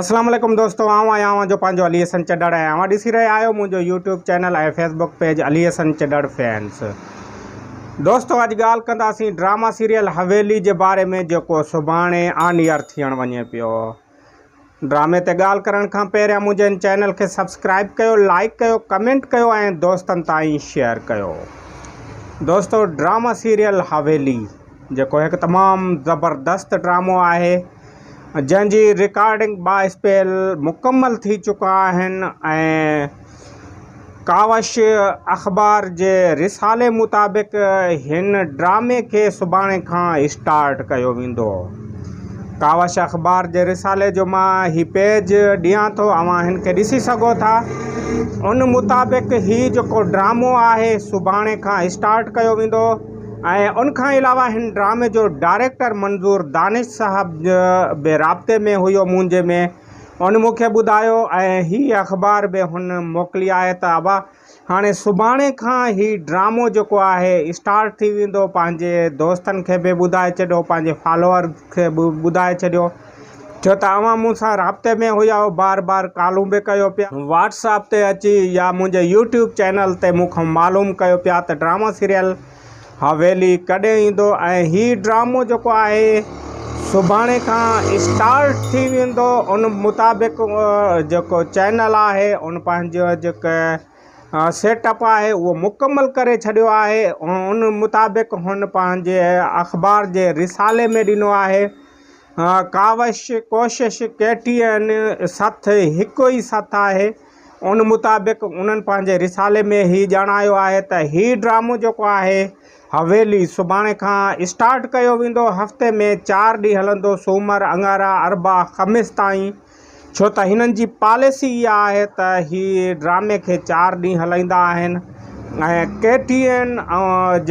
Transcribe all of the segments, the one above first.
اسلام عليڪم دوستو آئون آهيان اوهان جو پنهنجو علي حسن چڏڙ ۽ اوهان ڏسي رهيا آهيو منهنجو YouTube channel ۽ Facebook page Ali Hassan Chhadar fans دوستو اڄ ڳالهه ڪنداسين ڊراما سيريل حويلي جي باري ۾ جيڪو سڀاڻي آن ايئر ٿيڻ وڃي پيو ڊرامي تي ڳالهه ڪرڻ کان پهريان منهنجي ان چينل کي سبسڪرائب ڪيو لائڪ ڪيو ڪمينٽ ڪيو ۽ دوستن تائين شيئر ڪيو دوستو ڊراما سيريل حويلي جيڪو هڪ تمام زبردست ڊرامو آهي جنهن جي رڪارڊنگ با اسپيل مڪمل ٿي چڪا آهن ۽ ڪاوش اخبار جي رسالي مطابق هن ڊرامي کي سڀاڻي کان اسٽارٽ ڪيو ويندو ڪاوش اخبار جي رسالي جو مان هي پيج ڏيان ٿو اوهان هن کي ڏسي سگهو ٿا ان مطابق هي جيڪو ڊرامو آهي سڀاڻي کان اسٽارٽ ڪيو ويندو ۽ ان کان علاوه هن ڊرامي جو ڊائريڪٽر منظور دانش صاحب به رابطي ۾ هيو منهنجي ۾ ان مون کي ٻڌايو ۽ هي اخبار به هن موڪلي آهي ته ابا هاڻي سڀاڻي کان هي ڊرامو جيڪو آهي اسٽارٽ ٿي ويندو پنهنجي دوستن کي به ٻڌائي ڇڏيو پنهنجي فالوئرز کي به ٻڌائي ڇڏيو ڇو ته اوهان مون سان رابطي ۾ هيائو بار بار ڪالون به ڪيو پيا. واٽس اپ تي اچي يا منهنجي يوٽيوب چينل تي مون کان معلوم ڪيو پيا ته ڊراما سيريل حويلي ڪڏهن ايندو ۽ هي ڊرامو جيڪو آهي سڀاڻي کان اسٽارٽ ٿي ويندو ان مطابق جيڪو چينل آهي ان پنهنجو جيڪو سيٽ اپ آهي اهو مڪمل ڪري ڇڏيو آهي ان مطابق هن پنهنجي اخبار جي رسالي ۾ ڏنو آهي ڪاوش، ڪوشش، ڪيٽي ۽ سٿ هڪ ئي سٿ آهي. ان مطابق انهن پنهنجي رسالي ۾ هي ڄاڻايو آهي ته هي ڊرامو جيڪو آهي حويلي سڀاڻي کان اسٽارٽ ڪيو ويندو هفتي ۾ چار ڏينهن هلندو سومر، اڱارا، اربع، خميس تائين. ڇو ته هنن جي پاليسي اها آهي ته هي ڊرامي کي چار ڏينهن هلائيندا آهن ۽ ڪي ٽي اين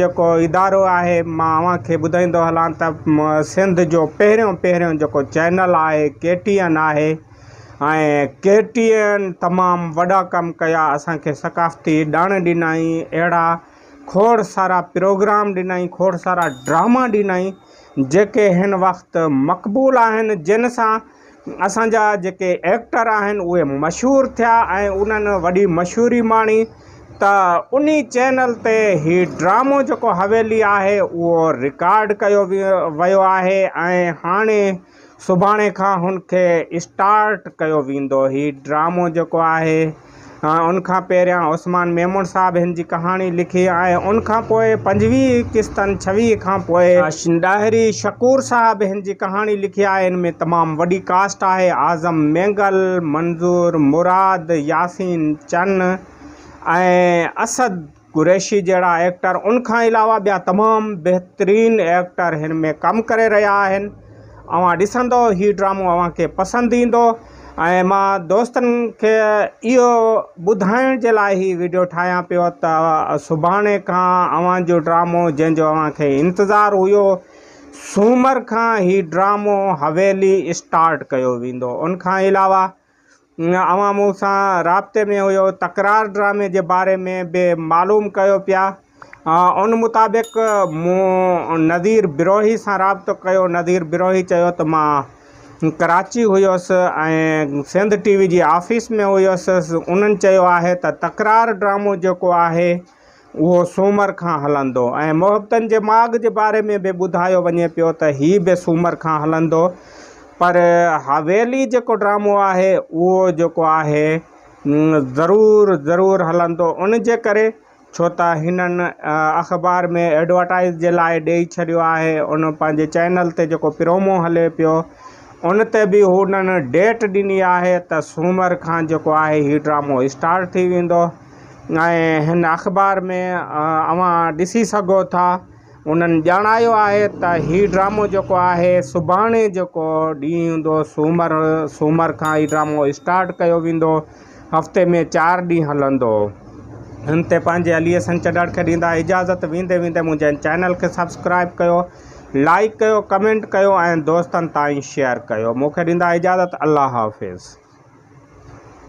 جيڪو ادارو آهي مان اوهان کي ٻڌائيندو هلان ته سنڌ جو پهريون پهريون جيڪو چينل آهي ڪي ٽي اين آهي ۽ ڪي ٽي اين تمام وڏا ڪم ڪيا اسان کي ثقافتي ڏڻ ڏنائين اهڙا کوڙ سارا پروگرام ڏنائين کوڙ سارا ڊراما ڏنائين جيڪي هن وقت مقبول آهن جن سان اسان جا جيڪي ايڪٽر آهن اهي مشهور ٿيا ۽ انهن وڏي مشهوري ماڻي ته انهي چينل تي هي ڊرامو جيڪو حويلي آهي اهو رڪارڊ ڪيو ويو آهي ۽ هاڻي سڀاڻي کان هن کي اسٽارٽ ڪيو ويندو هي ڊرامو جيڪو آهي ان کان پهريان عثمان ميمڻ صاحب هن جي ڪهاڻي لکي ۽ ان کان پوء پنجويهه قسطن ڇويهه کان پوء ڏاهري شڪور صاحب هن جي ڪهاڻي لکي آهي ان ۾ تمام وڏي ڪاسٽ آهي اعظم مينگل، منظور مراد، ياسين چن ۽ اسد. قريشي جهڙا ايڪٽر ان کان علاوه ٻيا تمام بهترين ايڪٽر هن ۾ ڪم ڪري رهيا آهن اوهان ڏسندو هي ڊرامو اوهان کي پسند ايندو ۽ مان دوستن کي اهو ٻڌائڻ جي لاء هي ويڊيو ٺاهيان پيو ته سڀاڻي کان اوهان جو ڊرامو جنهن جو اوهان کي انتظار هيو سومر کان هي ڊرامو حويلي اسٽارٽ ڪيو ويندو ان کان علاوه اوهان مون سان رابطي ۾ هيو، تڪرار ڊرامي جي باري ۾ به معلوم ڪيو پيا. ان مطابق مون نذير بروهي سان رابطو ڪيو. نذير بروهي چيو ته مان ڪراچي هيس ۽ سنڌ ٽي وي جي آفيس ۾ هيس. انهن چيو آهي ته تڪرار ڊرامو جيڪو آهي، اهو سومر کان هلندو ۽ محبتن جي ماڳ جي باري ۾ به ٻڌايو وڃي پيو ته هي به سومر کان هلندو پر حويلي جيڪو ڊرامو آهي اهو جيڪو آهي ضرور ضرور هلندو ان جي ڪري ڇو ته هنن اخبار ۾ ايڊورٽائيز جي لاء ڏئي ڇڏيو آهي ان پنهنجي چينل تي جيڪو پرومو هلي پيو ان تي به هنن ڊيٽ ڏني آهي ته سومر کان جيڪو آهي هي ڊرامو اسٽارٽ ٿي ويندو ۽ هن اخبار ۾ اوهان ڏسي سگهو ٿا انهن ڄاڻايو آهي ته هي ڊرامو جيڪو آهي سڀاڻي جيڪو ڏينهن هوندو سومر سومر کان هي ڊرامو اسٽارٽ ڪيو ويندو هفتي ۾ چار ڏينهن هلندو هن تي پنهنجي علي حسن چنڙ کي ڏيندا اجازت ويندي ويندي منهنجي چينل کي سبسڪرائب ڪيو لائڪ ڪيو ڪمينٽ ڪيو ۽ دوستن تائين شيئر ڪيو مونکي ڏيندا اجازت الله حافظ.